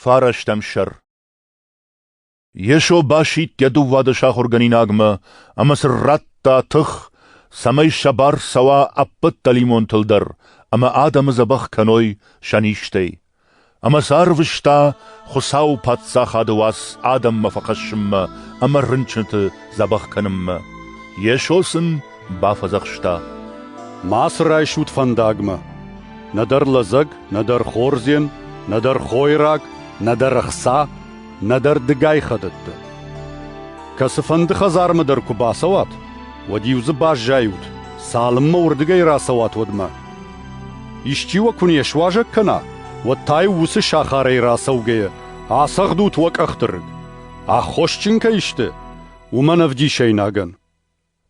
Фарастӕм сӕр Йесо басидт йӕ дыууады сахуыргӕнинагмӕ ӕмӕ сын радта тых, цӕмӕй сӕ бар цӕуа ӕппӕт дӕлимонтыл дӕр ӕмӕ адӕмы дзӕбӕх кӕной сӕ низтӕй. Ӕмӕ сӕ арвыста Хуыцауы Паддзахады уац адӕммӕ фӕхӕссынмӕ ӕмӕ рынчынты дзӕбӕх кӕнынмӕ. Йесо сын Бафӕдзӕхста: Ма цы райсут фӕндагмӕ. Нӕдӕр лӕдзӕг, нӕдӕр хордзен, нӕдӕр хойраг, нӕдӕр ӕхца, нӕдӕр дыгай хӕдӕттӕ. Кӕцыфӕнды хӕдзармӕ дӕр куы бацӕуат, уӕд-иу дзы баззайут, цалынмӕ уырдыгӕй рацӕуат, уӕдмӕ. Исчи уӕ куы не суазӕг кӕна, уӕд та-иу уыцы сахарӕй рацӕугӕйӕ ацӕгъдут уӕ къӕхты рыг. Аххосджын кӕй сты, уымӕн ӕвдисӕйнагӕн.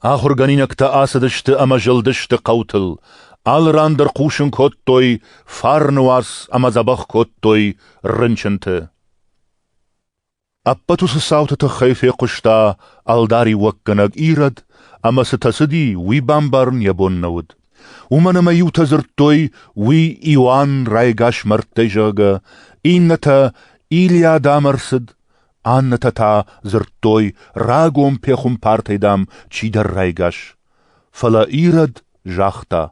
Ахуыргӕнинӕгтӕ ацыдысты ӕмӕ зылдысты хъӕутыл. Алы ран дӕр хъусын кодтой фарны уац ӕмӕ дзӕбӕх кодтой рынчынты. Ӕппӕт уыцы цауты тыххӕй фехъуыста ӕлдариуӕггӕнӕг Ирод, ӕмӕ цытӕ цыди, уый бамбарын йӕ бон нӕ уыд. Уымӕн ӕмӕ иутӕ дзырдтой, уый Иоанн райгас мӕрдтӕй, зӕгъгӕ, иннӕтӕ Илиад ам ӕрцыд, Аннӕтӕ та дзырдтой, рагон пехуымпартӕй, дам, чидӕр райгас. Фӕлӕ Ирод загъта.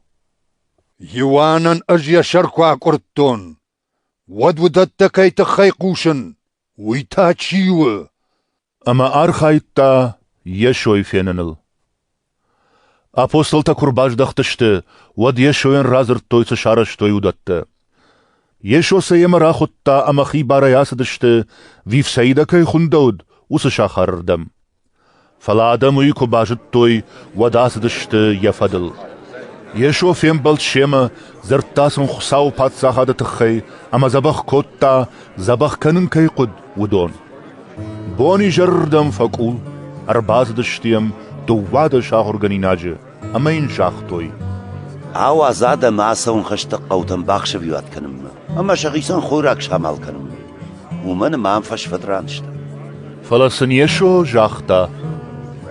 Иоаннӕн ӕз йӕ сӕр куы акъуырдтон, уӕд уыдӕттӕ кӕй тыххӕй хъусын, уый та чи у? Ӕмӕ архайдта Йесойы феныныл. Апостолтӕ куы рбаздӕхтысты, уӕд Йесойӕн радзырдтой, цы сарӕзтой, уыдӕттӕ. Йесо сӕ йемӕ рахуыдта ӕмӕ хибарӕй ацыдысты, Вифсаидӕ кӕй хуындӕуыд, уыцы сахарырдӕм. Фӕлӕ адӕм уый куы базыдтой, уӕд ацыдысты йӕ фӕдыл. Йесо фембӕлд семӕ, дзырдта сын Хуыцауы Паддзахады тыххӕй ӕмӕ дзӕбӕх кодта, дзӕбӕх кӕнын кӕй хъуыд, уыдон. Бонизӕрырдӕм фӕкъул, ӕрбацыдысты йӕм дыууадӕс ахуыргӕнинаджы ӕмӕ йын загътой. Ауадз адӕмы ацӕуын хӕсты хъӕутӕм бахсӕвиуат кӕнынмӕ ӕмӕ сӕхицӕн хойраг самал кӕнынмӕ. Уымӕн ӕмӕ ам фӕсфӕдран сты. Фӕлӕ сын Йесо загъта.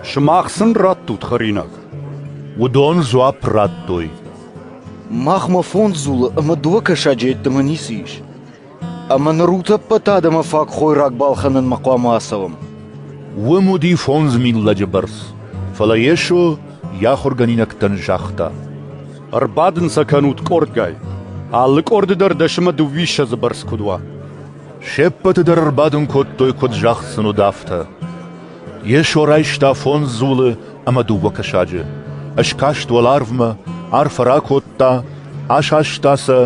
Сымах сын раттут хӕринаг. Уыдон дзуапп радтой. Махмӕ фондз дзулы ӕмӕ дыууӕ кӕсаджы йеддӕмӕ ницы ис. Ӕмӕ ныр ӕппӕт адӕмы фаг хойраг балхӕнынмӕ хъуамӕ ацӕуӕм. Уым уыди фондз мин лӕджы бӕрц, фӕлӕ Йесо йӕ ахуыргӕнинӕгтӕн загъта: «Ӕрбадын сӕ кӕнут къордгай, алы къорды дӕр дӕсӕмӕ дыууиссӕдзы бӕрц куыд уа». Се ппӕты дӕр ӕрбадын кодтой, куыд загъд сын уыд, афтӕ. Йесо райста фондз дзулы ӕмӕ дыууӕ кӕсаджы, скаст уӕларвмӕ, арфӕ ракодта, асаста сӕ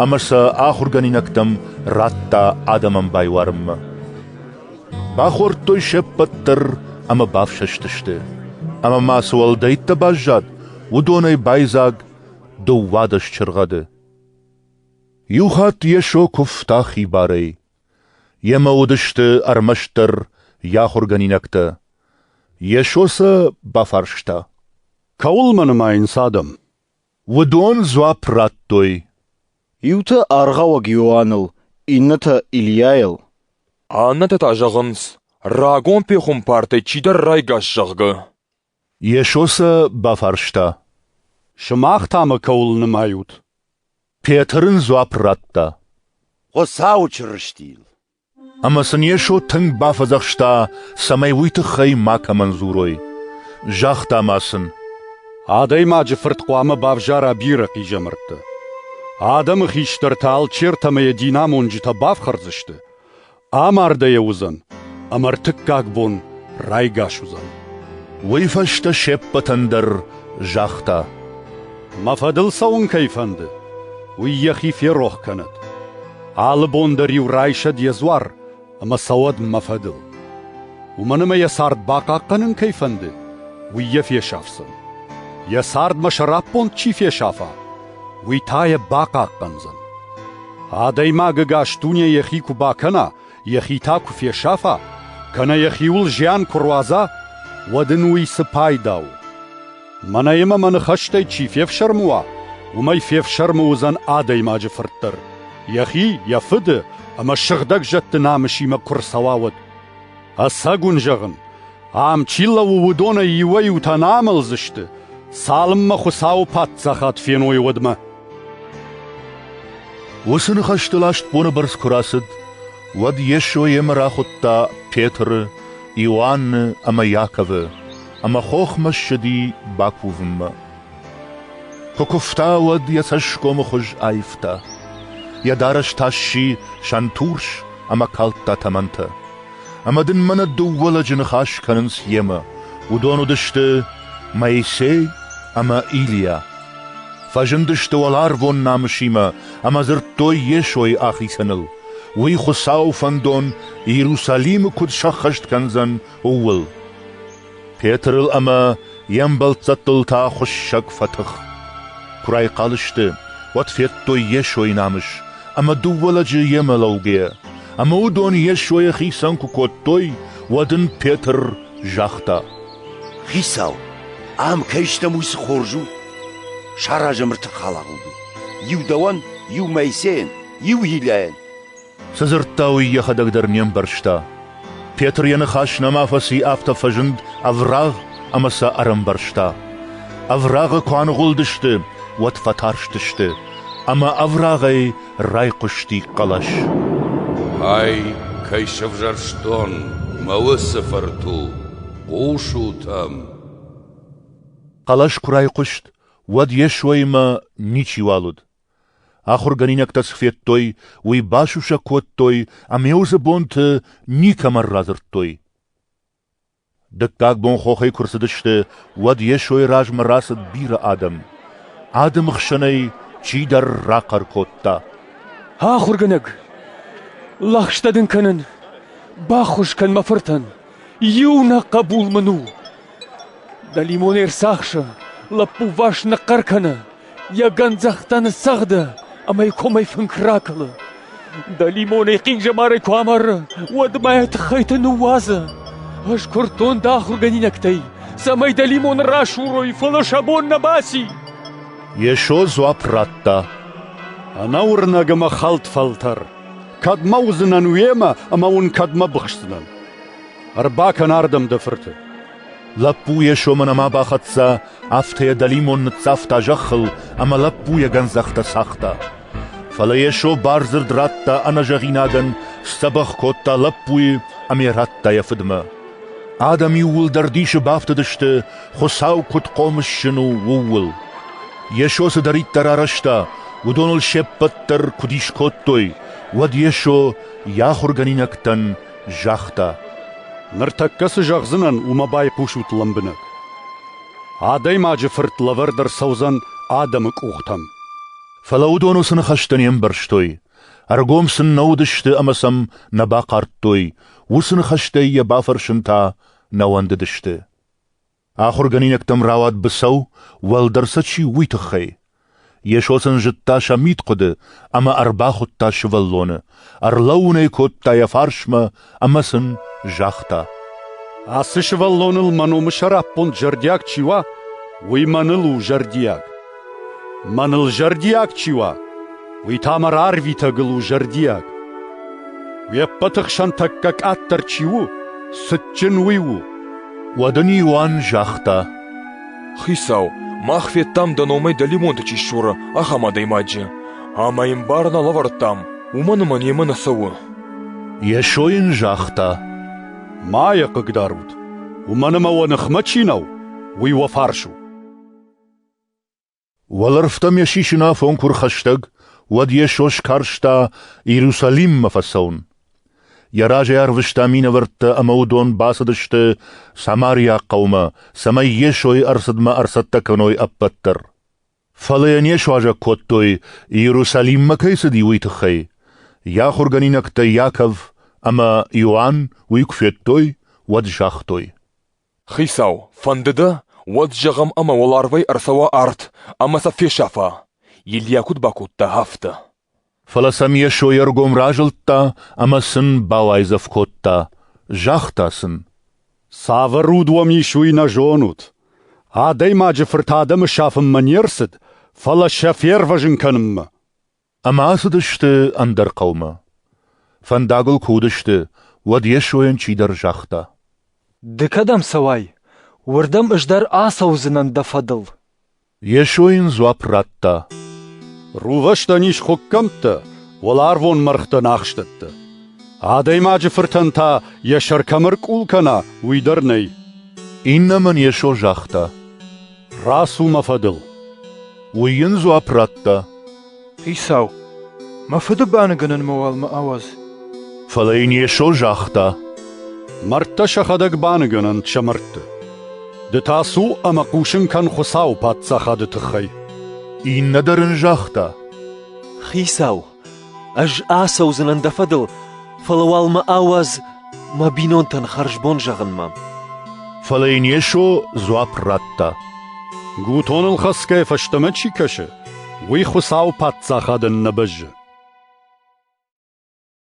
ӕмӕ сӕ ахуыргӕнинӕгтӕм радта адӕмӕн байуарынмӕ. Бахордтой се ппӕт дӕр ӕмӕ бафсӕстысты. Ӕмӕ ма цы уӕлдӕйттӕ баззад, уыдонӕй байдзаг дыууадӕс чыргъӕды. Иу хатт Йесо куывта хибарӕй. Йемӕ уыдысты ӕрмӕстдӕр йӕ ахуыргӕнинӕгтӕ. Йесо сӕ бафарста. «Кӕуыл мӕ нымайынц адӕм?» Уыдон дзуапп радтой: Иутӕ аргъауӕг Иоанныл, иннӕтӕ Ильяйыл. Аннӕтӕ та зӕгъынц, рагон пехуымпартӕй чидӕр райгас, зӕгъгӕ. Йесо сӕ бафарста: Сымах та мӕ кӕуыл нымайут? Петр ын дзуапп радта: Хуыцауы Чырыстийыл. Ӕмӕ сын Йесо тынг бафӕдзӕхста, цӕмӕй уый тыххӕй макӕмӕн дзурой. Загъта ма сын: «Адӕймаджы Фырт хъуамӕ бавзара бирӕ хъизӕмӕрттӕ. Адӕмы хистӕртӕ алчертӕмӕ йӕ динамонджытӕ бафхӕрдзысты, амардӕй йӕ уыдзӕн ӕмӕ ӕртыккаг бон райгас уыдзӕн». Уый фӕстӕ се ппӕтӕн дӕр загъта: «Мӕ фӕдыл цӕуын кӕй фӕнды, уый йӕхи ферох кӕнӕд. Алы бон дӕр-иу райсӕд йӕ дзуар ӕмӕ цӕуӕд мӕ фӕдыл. Уымӕн ӕмӕ йӕ цард бахъахъхъӕнын кӕй фӕнды, уый йӕ фесафдзӕн. Йӕ цардмӕ сӕраппонд чи фесафа, уый та йӕ бахъахъхъӕндзӕн. Адӕймагы ӕгас дуне йӕхи куы бакӕна, йӕхи та куы фесафа, кӕнӕ йӕхиуыл зиан куы руадза, уӕд ын уый цы пайда у? Мӕнӕ йемӕ мӕ ныхӕстӕй чи фефсӕрмы уа, уымӕй фефсӕрмы уыдзӕн адӕймаджы фырт дӕр, йӕхи, йӕ фыды ӕмӕ сыгъдӕг зӕдты намысимӕ куы рцӕуа, уӕд. Ӕцӕг уын зӕгъын, Ам чи лӕууы, уыдонӕй иуӕй-иутӕ нӕ амӕлдзысты, цалынмӕ Хуыцауы паддзахад феной, уӕдмӕ. Уыцы ныхӕстыл астбоны бӕрц куы рацыд, уӕд Йесо йемӕ рахуыдта Петры, Иоанны ӕмӕ Иаковы ӕмӕ хохмӕ ссыди бакувынмӕ. Куы куывта, уӕд йӕ цӕсгомы хуыз аивта. Йӕ дарӕс та сси сӕнтурс ӕмӕ калдта тӕмӕнтӕ. ӕмӕ дын мӕнӕ дыууӕ лӕджы ныхас кӕнынц йемӕ. Уыдон уыдысты Моисей ӕмӕ Илийа. Фӕзындысты уӕларвон намысимӕ ӕмӕ дзырдтой Йесойы ахицӕныл, уый Хуыцауы фӕндон Иерусалимы куыд сӕххӕст кӕндзӕн, ууыл. Петрыл ӕмӕ йе мбӕлццӕттыл та хуыссӕг фӕтых. Куы райхъал сты, уӕд федтой Йесойы намыс, ӕмӕ дыууӕ лӕджы йемӕ лӕугӕйӕ. Ӕмӕ уыдон Йесойы хицӕн куы кодтой, уӕд ын Петр загъта: «Хицау, ам кӕй стӕм, уый цы хорз у! Саразӕм ртыхалӕгъуд. Иу дӕуӕн, иу Моисейӕн, иу Илиайӕн. Цы дзырдта, уый йӕхӕдӕг дӕр не мбӕрста. Петр йӕ ныхас нӕма фӕци, афтӕ фӕзынд ӕврагъ ӕмӕ сӕ ӕрӕмбӕрста. Ӕврагъы куы аныгъуылдысты, уӕд фӕтарстысты, ӕмӕ ӕврагъӕй райхъуысти хъӕлӕс. «Ай, кӕй сӕвзӕрстон мӕ уыцы фырту, хъусут ӕм!» Хъӕлӕс куы райхъуыст, уӕд Йесоимӕ ничиуал уыд. Ахуыргӕнинӕгтӕ цы федтой, уый басусӕг кодтой ӕмӕ дзы бонты никӕмӕн радзырдтой. Дыккаг бон хохӕй куы рцыдысты, уӕд Йесойы размӕ рацыд бирӕ адӕм. Адӕмы хсӕнӕй чидӕр рахъӕр кодта: «Ахуыргӕнӕг, лӕгъстӕ дын кӕнын! Баххуыс кӕн мӕ фыртӕн! Иу нӕ хъӕбул мын у!» Дӕлимон ӕрцахсы, лӕппуварс ныхъхъӕр кӕны, йӕ гӕндзӕхтӕ ныццӕгъды ӕмӕ йӕ комӕй фынк ракӕлы. Дӕлимон ӕй хъинджымӕрӕй куы амары, уӕд мӕ йӕ тыххӕйты ныууадзы. Ӕз куырдтон дӕ ахуыргӕнинӕгтӕй, цӕмӕй дӕлимон расурой, фӕлӕ сӕ бон нӕ баци. Йесо дзуапп радта. Ӕнӕуырнӕг ӕмӕ хӕлд фӕлтӕр! Кӕдмӕ уыдзынӕн уемӕ ӕмӕ уын кӕдмӕ быхсдзынӕн? Ӕрбакӕн ардӕм дӕ фырты. Лӕппу йӕ сомы нӕма бахӕццӕ, афтӕ йӕ дӕлимон ныццавта зӕххыл ӕмӕ лӕппу йӕ гӕндзӕхтӕ цагъта. Фӕлӕ Йесо бардзырд радта ӕнӕзӕгъинагӕн, сдзӕбӕх кодта лӕппуйы ӕмӕ радта йӕ фыдмӕ. Адӕм иууылдӕр дисы бафтыдысты, Хуыцау куыд хъомысджын у, ууыл. Йесо цыдӕриддӕр арӕзта, уыдоныл се ппӕт дӕр куыд ис кодтой, уӕд Йесо йӕ ахуыргӕнинӕгтӕн загъта. Ныртӕккӕ цы зӕгъдзынӕн, уымӕ байхъусут лӕмбынӕг. Адӕймаджы фырт лӕвӕрд ӕрцӕудзӕн адӕмы къухтӕм. Фӕлӕ уыдон уыцы ныхӕстӕ не мбӕрстой. Ӕргом сын нӕ уыдысты ӕмӕ сӕм нӕ бахъардтой, уыцы ныхӕстӕй йӕ бафӕрсын та нӕ уӕндыдысты. Ахуыргӕнинӕгтӕм рауад быцӕу, уӕлдӕр сӕ чи у, уый тыххӕй. Йесо сын зыдта сӕ мидхъуыды ӕмӕ ӕрбахуыдта сывӕллоны, ӕрлӕууын ӕй кодта йӕ фарсмӕ ӕмӕ сын загъта: «Ацы сывӕллоныл мӕ номы сӕраппонд зӕрдиаг чи уа, уый мӕныл у зӕрдиаг. Мӕныл зӕрдиаг чи уа, уый та мӕ рарвитӕгыл у зӕрдиаг. Уе ппӕты хсӕн тӕккӕ къаддӕр чи у, цытджын уый у. Уӕд ын Иоанн загъта: Хицау, мах федтам дӕ номӕй дӕлимонты чи ссуры, ахӕм адӕймаджы, ӕмӕ йын бар нӕ лӕвӕрдтам, уымӕн ӕмӕ немӕ нӕ цӕуы. Йесо йын загъта: Ма йӕ хъыгдарут, уымӕн ӕмӕ уӕ ныхмӕ чи нӕу, уый уӕ фарс у. Уӕлӕрвтӕ ме сисынафон куы рхӕстӕг, уӕд Йесо скарста Иерусалиммӕ фӕцӕуын. Йӕ разӕй арвыста минӕвӕрттӕ ӕмӕ уыдон бацыдысты Самариаг хъӕумӕ, цӕмӕй Йесойы ӕрцыдмӕ ӕрцӕттӕ кӕной ӕппӕт дӕр. Фӕлӕ йӕ не суазӕг кодтой, Иерусалиммӕ кӕй цыди, уый тыххӕй. Йӕ ахуыргӕнинӕгтӕ Иаков ӕмӕ Иоанн уый куы федтой, уӕд загътой. Хицау, фӕнды дӕ, уӕд зӕгъӕм ӕмӕ уӕларвӕй ӕрцӕуа арт ӕмӕ сӕ фесӕфа, Илья куыд бакодта, афтӕ. Фӕлӕ сӕм Йесо йе ргом разылдта ӕмӕ сын бауайдзӕф кодта, загъта сын. «Цавӕр уд уӕм ис, уый нӕ зонут. Адӕймаджы Фырт адӕмы сафынмӕ не рцыд, фӕлӕ сӕ фервӕзын кӕнынмӕ». Ӕмӕ ацыдысты ӕндӕр хъӕумӕ. Фӕндагыл куы уыдысты, уӕд Йесойӕн чидӕр загъта. «Ды кӕдӕм цӕуай? Уырдӕм ӕз дӕр ацӕудзынӕн дӕ фӕдыл». Йесо йын дзуапп радта. «Рувӕстӕн ис хуыккӕмттӕ, уӕларвон мӕргътӕн ахстӕттӕ. Адӕймаджы фыртӕн та йӕ сӕр кӕм ӕркъул кӕна, уый дӕр нӕй». Иннӕмӕн Йесо загъта. Рацу мӕ фӕдыл. Уый йын дзуапп радта. Хицау, мӕ фыды баныгӕнӕн мӕ уӕлмӕ ауадз. Фӕлӕ йын Йесо загъта. Мӕрдтӕ сӕхӕдӕг баныгӕнӕнт сӕ мӕрдты. Ды та цу ӕмӕ хъусын кӕн Хуыцауы Паддзахады тыххӕй. Иннӕ дӕр ын загъта. Хицау, Ӕз ацӕудзынӕн дӕ фӕдыл, фӕлӕ уал мӕ ауадз мӕ бинонтӕн хӕрзбон зӕгъынмӕ. Фӕлӕ йын Йесо дзуапп радта. Гутоныл хӕцгӕ фӕстӕмӕ чи кӕсы, уый Хуыцауы Паддзахадӕн нӕ бӕззы.